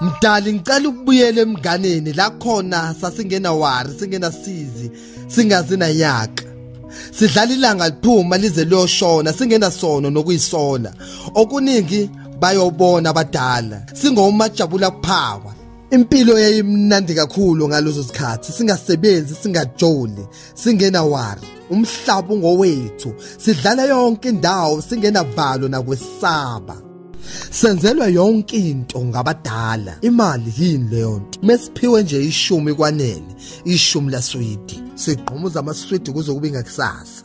mdali ngicela ukubuyela emnganeni la khona sasingena wari singena sizi singazi nanyaka sidlala ilanga liphuma lize liyoshona singena sono nokuyisola okuningi bayobona abadala singomajabula kuphawa impilo yayimnandi kakhulu ngalezo sikhathi singasebenzi singajoli singena wari umhlaba ungowethu sidlala yonke indawo singena valo nakwesaba senzelwa yonke into ngabadala imali yini leyo nto mesiphiwe nje ishumi kwanele ishumi laswidi sigqumuza amaswidi kuze kube ngakusasa